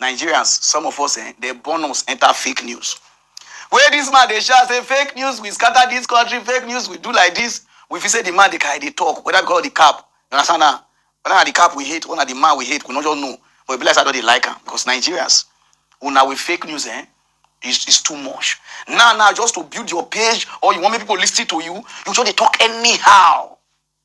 Nigerians some of us eh, dem born us enter fake news. Wey dis man dey shout say fake news we scatter dis country, fake news we do like dis, we feel say di man dey carry dey talk whether because of di cap, you understand na? Whether na di cap we hate or na di man we hate, we no just know but e be like say I don dey like am because Nigerians una with fake news eh, is is too much. Now now just to build your page or you want make people listen to you, you just dey talk anyhow.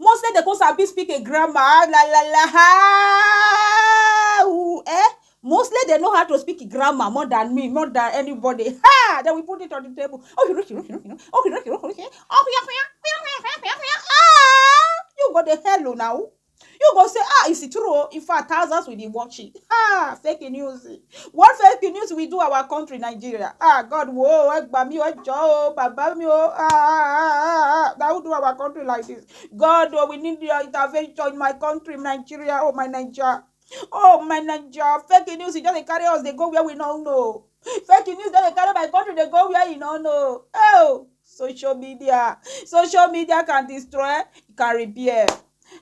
Mostly dem kon sabi speak a grammar ah la la la haauu eh Mostly dem know how to speak a grammar more than me, more than anybody haa Then we put it on the table You go dey hello now You go say ah is it true oh In fact thousands will be watching haa Fake news What fake news we do our country Nigeria? Ah God wo ẹ gbà mí ẹ jọ o bàbá mi o ah ah ah ah that who do our country like this? God oh we need your intervention in my country Nigeria oh my Nigeria oh my Nigeria fake news e just dey carry us dey go where we no know fake news just dey carry my country dey go where e no know oh social media social media can destroy can repair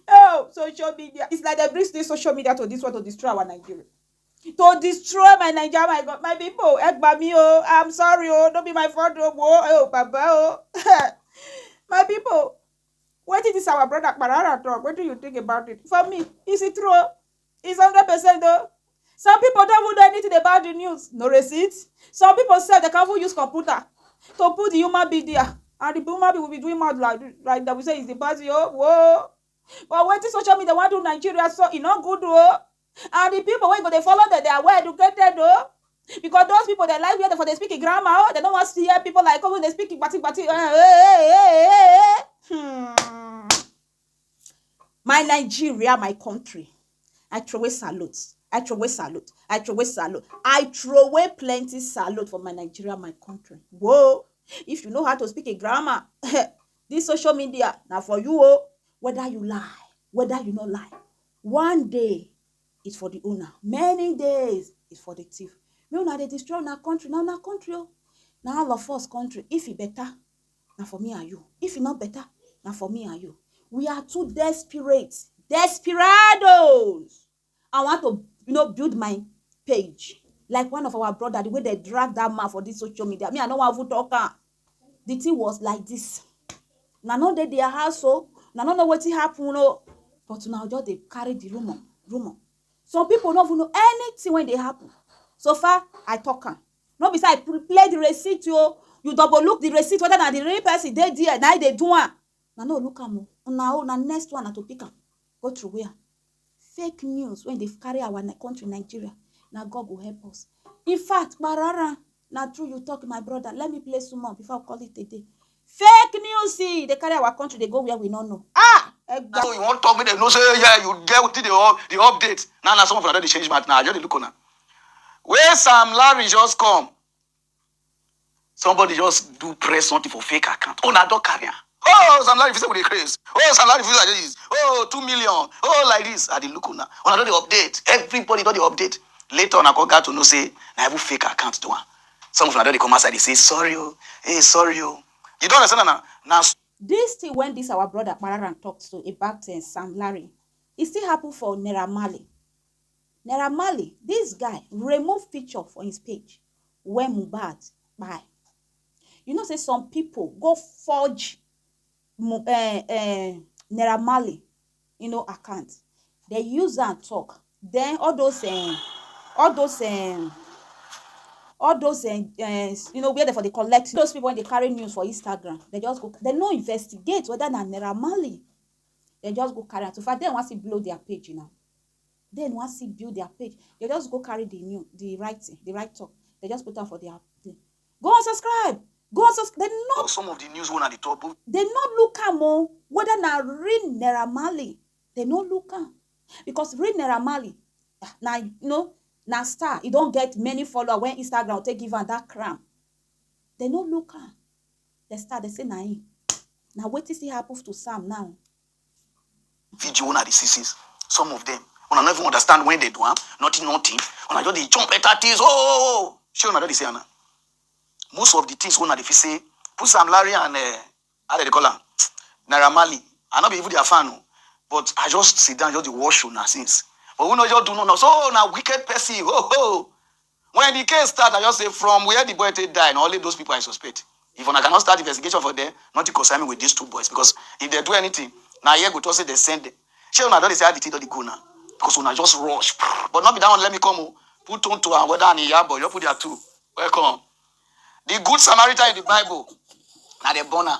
oh social media it's like they bring this social media to this world to destroy our Nigeria. to destroy my naija my god my pipo ẹ gbà mí o i'm sorry o no be my fault o wo ẹ ò bàbá o my pipo wetin dis our brother kparara talk wetin you think about it for me is it true o is hundred percent o some pipo don even know anything about the news no receipt some pipo sef dem can even use computer to put the human being there and the human being will be doing mouth like like dem will say is the person o wo but wetin social media wan do nigeria so e no good o And the people wey go dey follow dem, they are well educated o. Oh. Because those people they like where they for they speak grammar, oh, they don't want to hear people like oh, they speak bati bati. Hmm. My Nigeria, my country. I throw away salute. I throw away salute. I throw away salute. I throw away plenty salute for my Nigeria, my country. Whoa. If you know how to speak a grammar, this social media now for you, oh, whether you lie, whether you not lie. One day is for the owner, many days is for the thief. Make una dey destroy una country, na una country o. Na all of us country. If e better, na for me and you. If e no better, na for me and you. We are too desperate, desperados. I want to, you know, build my page like one of our brother, the way they drag that man for this social media. Me, I no wan even talk am. the thing was like this na no dey their house o oh. na no know wetin happen o oh. but una just dey carry the rumor rumor some people no even know anything wey dey happen so far i talk am no be say i play the receipt o oh. you double look the receipt whether na the real person dey there na i dey do am na no look am o una own na next one na to pick am go throway am fake news wey dey carry our country nigeria na god go help us in fact kparara na true you talk my brother let me play small before i call it a day fake news see dey carry our country dey go where we no know ah egba So you wan talk make dem know say yeah you get wetin dey up the update. Now na some of una don dey change mouth now. I just dey look una. Wey Sam Larry just come. Somebody just do press something for fake account. Oh, now don't carry am. Oh, Sam Larry, you say we dey craze. Oh, Sam Larry, you like this. Oh, two million. Oh, like this. I dey look una. Una don dey update. Everybody don dey update. Later on, I go got to know say na even fake account do am. Some of una don dey come outside dey say sorry o, hey sorry o. You don understand na? Na This thing when this our brother Pararan talked to about uh, Sam Larry, it still happened for Naira Marley. Naira Marley dis guy remove picture for his page when Mohbad kpai. You know say some people go forge Mo- eh, eh, Naira Marley you know, account. They use am talk. Then all those eh, all those eh, all those eh, eh, you know where they for dey collect those people when they carry news for Instagram. They just go. They no investigate whether na Naira Marley. They just go carry am. So far, dem wan still blow their page now. dem wan still build their page they just go carry the new the right thing the right talk they just put am for their thing go and subscribe go and subscribe they no some of the news one at the top oh. they no look am o oh, whether na real naira marley they no look am because real naira marley ah, na you know na star e don get many follower when instagram take give am that crown they no look am they start dey say na him na wetin still happen to sam now video una dey see since some of them una no even understand when they do am nothing nothing una just dey jump enter things oh, oh, oh, oh. shey una don dey see am na most of the things wey una dey fit say put sam larry and uh, how dem dey call am naira marley i no be even their fan o but i just sit down just dey watch una since but we no just do no no so na wicked person ho ho When the case start, I just say from where the boy take die and only those people I suspect. If una cannot start investigation for there, nothing concern me with these two boys because if they do anything, na here go talk say they send them. Shey una don dey see how the thing don dey go now because una just rush. But not be that one let me come o. Put Tonto and Weda and Iyabo, you put their two. Welcome. The good Samaritan in the Bible, na dem born am.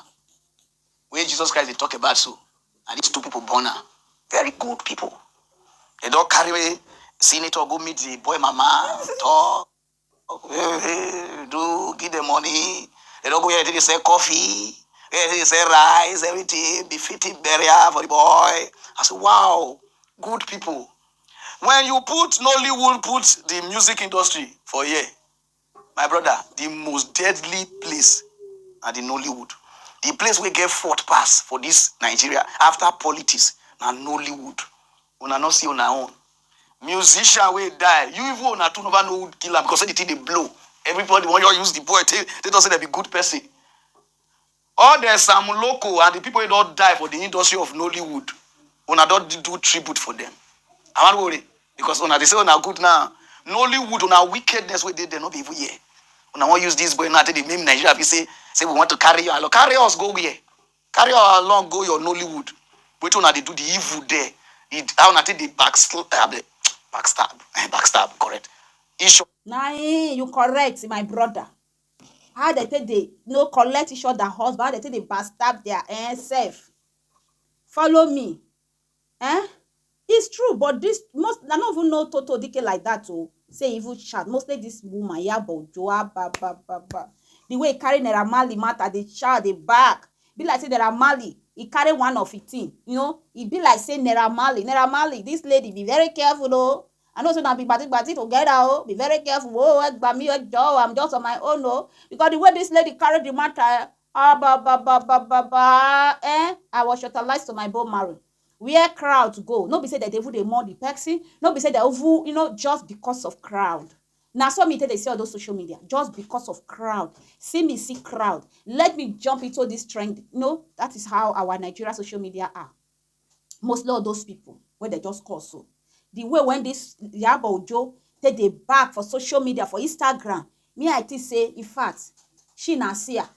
wey Jesus Christ dey talk about so, na dis two pipo born am. Very good pipo. Dem don carry senator go meet di boy mama, tok, do, give dem money. Dem don go where dem take dey sell coffee, where dem take dey sell rice, evritin, befitting burial for di boy. I say, wow! Good pipo. Wen you put Nollywood put di music industry for here. My brother, di most deadly place na di Nollywood. Di place wey get fort pass for dis Nigeria after politics na Nollywood. Una no see una own musician wey die, you even una too never know who kill am because say di thing dey blow, everybody wan just use di boy take take talk say dem be good person. All the Sam Loco and the people wey don die for the industry of Nollywood, una don do tribute for them. I wan worry because una dey say una good now. Nollywood, una wickedness wey dey there no be even here. Una wan use this boy now take dey meme Nigeria be say say we want to carry you along. Carry us go where? Carry us along go your Nollywood. Wetin una dey do the evil there? The how una take dey backstab, backstab, eh, backstab, correct? Ish. Na im you correct my brother. how dem take dey you know, collect each other husband, how dem take dey backstab their eh, self. Follow me. Eh? It's true, but this most I no even know Toto Dike like that oh. Say evil chat. Mostly this woman, Yaba Ojo, ah, ba ba ba ba. The way he carry Naira Marley matter, the child, the back. Be like say Naira Marley, he carry one of his thing. You know, e be like say Naira Marley, Naira Marley, this lady be very careful oh. I know say una be gbati gbati together o, be very careful o, ẹ gbà mí o, ẹ jọ̀ọ́ o, I'm just on my own o, because the way this lady carry the matter eh, abababababaa eh, I was shortalized to my bone marrow. Where crowd go, no be say dem dey even dey mourn the person, no be say dem even, you know, just because of crowd. Na so me take dey see all those social media, just because of crowd. See me see crowd, let me jump into this trend, you know, that is how our Nigeria social media are. mostly all those pipu wey dem just call so, the way wey this Iyabo Ojo take dey bab for social media for Instagram me I think say in fact she na seer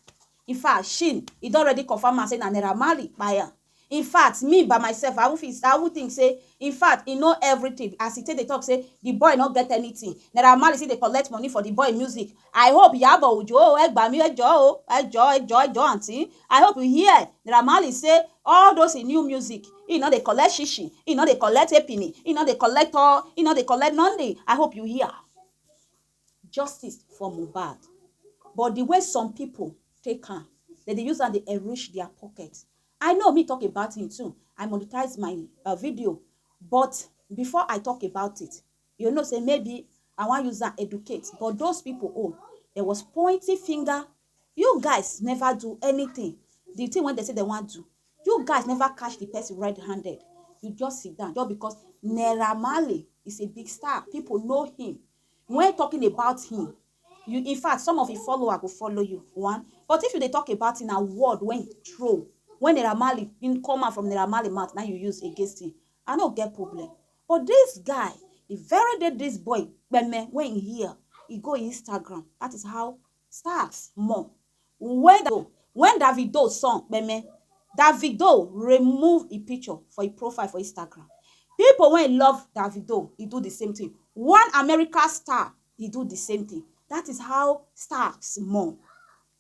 in fact she e don already confirm am say na Naira Marley kpai am in fact me by myself I even feel I even think say in fact he know everything as he take dey talk say the boy no get anything Naira Marley still dey collect money for the boy music I hope Yabo Ojo o, ẹ gbà mí ẹ jọ̀ọ́ o, ẹ jọ̀ọ́ ẹ jọ̀ọ́ ẹ jọ̀ọ́ aunty. I hope you hear Naira Marley say all those him new music, he no dey collect shishi, he no dey collect epini, he no dey collect tor, he no dey collect nothing, I hope you hear. Justice for Mohbad but the way some people take am, dem dey use am dey enrich their pocket. I know me talk about him too, I monetize my video but before I talk about it, You know say maybe I wan use am educate but those people own there was pointing finger you guys never do anything the thing wey dem say dem wan do you guys never catch the person red handed you just sit down just because Naira Marley is a big star people know him when talking about him you in fact some of him follower go follow you one but if you dey talk about him na word when he throw when Naira Marley him come out from Naira Marley mouth na you use against him I no get problem But this guy the very day this boy kpeme when he hear he go Instagram that is how stars mọ when da when Davido song kpeme Davido remove e picture for e profile for Instagram people wey love Davido he do the same thing one America star he do the same thing that is how stars mọ.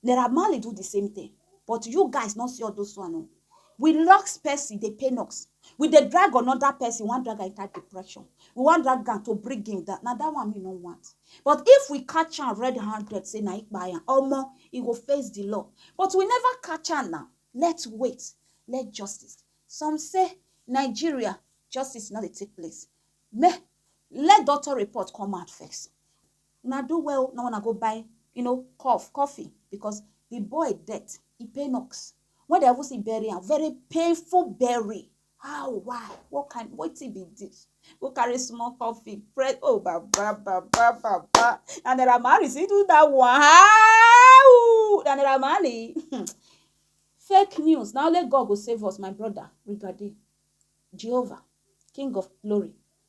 Naira Marley do the same thing but you guys no see all those one o. We locks person dey pain us. We dey drag another person, we wan drag am enter depression. We wan drag am to bring him down. Na that one me no want. But if we catch am red handed say na him kpai am, omo, he go face the law. But we never catch am now. Let's wait. Let justice. Some say Nigeria justice no dey take place. Make let doctor report come out first. Una do well o, na una go buy, you know, coff, coffin because the boy death e pain us. When dem even see bury am, very painful bury. How, why, what kind, wetin be this? Go carry small coffin, press, oh baba, baba, baba. Na Naira Marley still do that one. How? Na Naira Marley. Fake news. Na only God go save us, my brother. Rigadi. Jehovah, King of glory.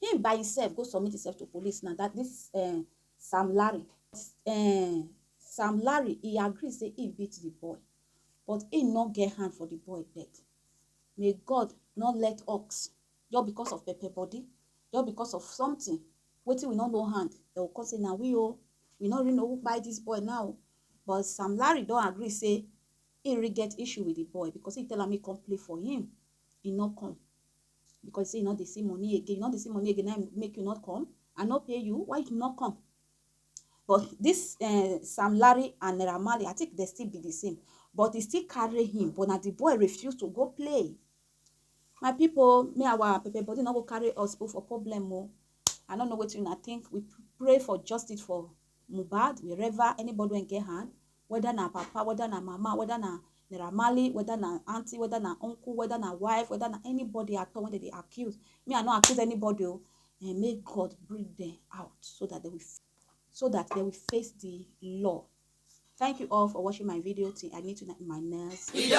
Him by himself go submit himself to police na that this um Sam Larry um Sam Larry e agree say he beat the boy but he no get hand for the boy death. May God no let ox just because of pepper body just because of something wetin we no know hand dem go come say na we o oh. we no really know who kpai this boy now oh. but Sam Larry don agree say he really get issue with the boy because he tell am he come play for him he no come Because you say you no dey see money again, you no dey see money again, na make you not come. I no pay you, why you not come? But this uh, Sam Larry and Naira Marley, I think they still be the same. But he still carry him, but now the boy refused to go play. My people, me our Pepe body not go carry us go for problem. Oh. I don't know what you think. We pray for justice for Mubad, wherever anybody can get hand. weda na papa, weda na mama, weda na Naira Marley, weda na aunty, weda na uncle, weda na wife, weda na anybody at all wey dem dey accuse. Me I no accuse anybody o. um Make God bring dem out so dat dem will so dat dem will face di law. Thank you all for watching my video till I meet una in my next video.